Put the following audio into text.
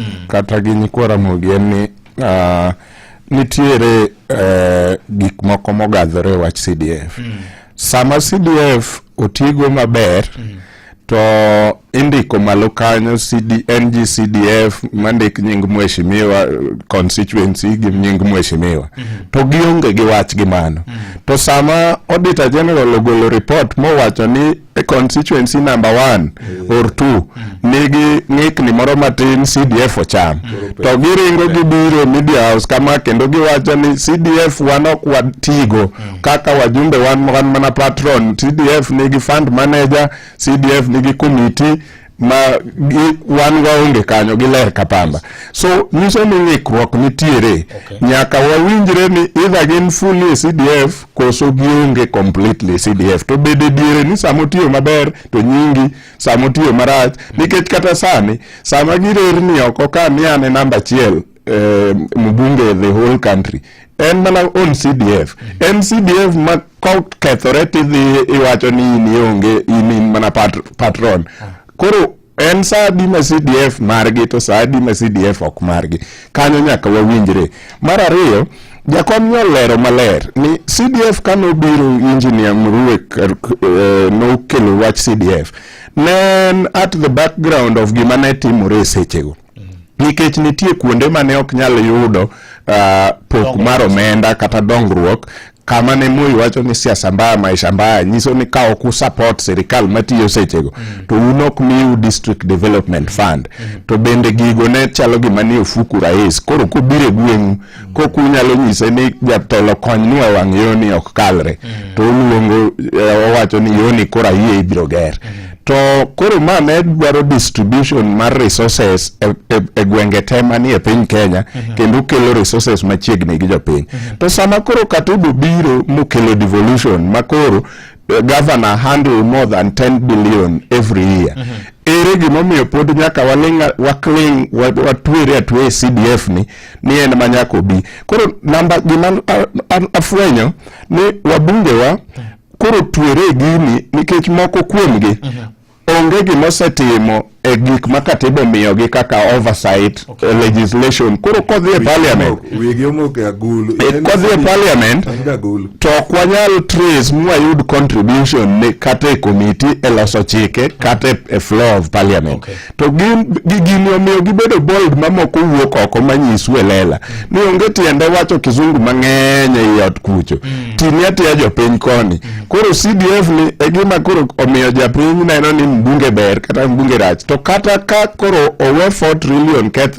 mm. kata gi nyikwa Ramogi en ni uh, nitiere uh, gik moko mogadhore e wach CDF mm. sama CDF otigo maber mm. to indiko malo kanyo CD, NG CDF mandik nying mheshimiwa constituency gi nying mheshimiwa mm -hmm. to gionge gi wach gi mano mm -hmm. to sama auditor general ogolo report mowacho ni e constituency number one mm. or two mm. nigi ng'ikni moro matin CDF ocham mm. to giringo gibiro media house kama kendo giwacho ni CDF wan ok watigo mm. kaka wajumbe wan, wan mana patron CDF nigi fund manager CDF nigi committee ma wan waonge kanyo giler ka pamba so nyiso ni ng'ikruok nitiere okay. nyaka wawinjre ni idha gin fully CDF koso gionge completely CDF to bede diere ni sama otiyo maber to nyingi sama otiyo marach nikech kata sani sama girerni oko ka ni ane namba achiel eh, mbunge the whole country en mana on CDF en CDF ma kokethore tidhi iwacho ni in ionge in in mana pat, patron koro en saa adi ma CDF margi to saa adi ma CDF ok margi kanyo nyaka wawinjre mar ariyo jakom nolero maler ni CDF ka nobiro engineer Murue eh, nokelo wach CDF ne en at the background of gima ne timore e sechego nikech nitie kuonde ma ne ok nyal yudo uh, pok mar omenda kata dongruok kama ne Moi wacho ni siasa mbaya maisha mbaya nyiso ni ka ok usupport sirikal matiyo sechego mm. to un ok miu district development fund mm. to bende gigo ne chalo gima ni ofuku rais koro kobire gweng'u kok unyalo nyise ni jatelo kony ni e wang' yoni ok kalre mm. to uluongo eh, owacho ni yoni koro ayie ibiro ger mm. to koro ma ne dwaro distribution mar resources e, e, e gwenge te manie piny Kenya mm -hmm. kendo kelo resources machiegni gi jopiny mm -hmm. to sama koro Katudu biro mokelo devolution ma koro eh, governor handle more than 10 billion every year mm -hmm ere gimomiyo pod nyaka waling wakling watwere atwe e CDF ni ni en ma nyaka obi koro namba gima afwenyo ni wabungewa koro twere gini nikech moko kuomgi mhm. onge gima osetimo e gik ma katiba omiyogi kaka oversight okay. Eh, legislation koro kodhi e parliament eh, kodhi e parliament to ok wanyal trace mwayud contribution ne kata e komiti e loso chike kata e floor of parliament okay. to gini omiyo gibedo bold mamoko wuok oko manyisu e lela ni onge tiende wacho kizungu mang'eny e iot kucho mm. tini atiya jopiny koni mm. Koro CDF ni e gima koro omiyo japiny neno ni mbunge ber kata mbunge rach. To kata ka koro owe 4 trillion keth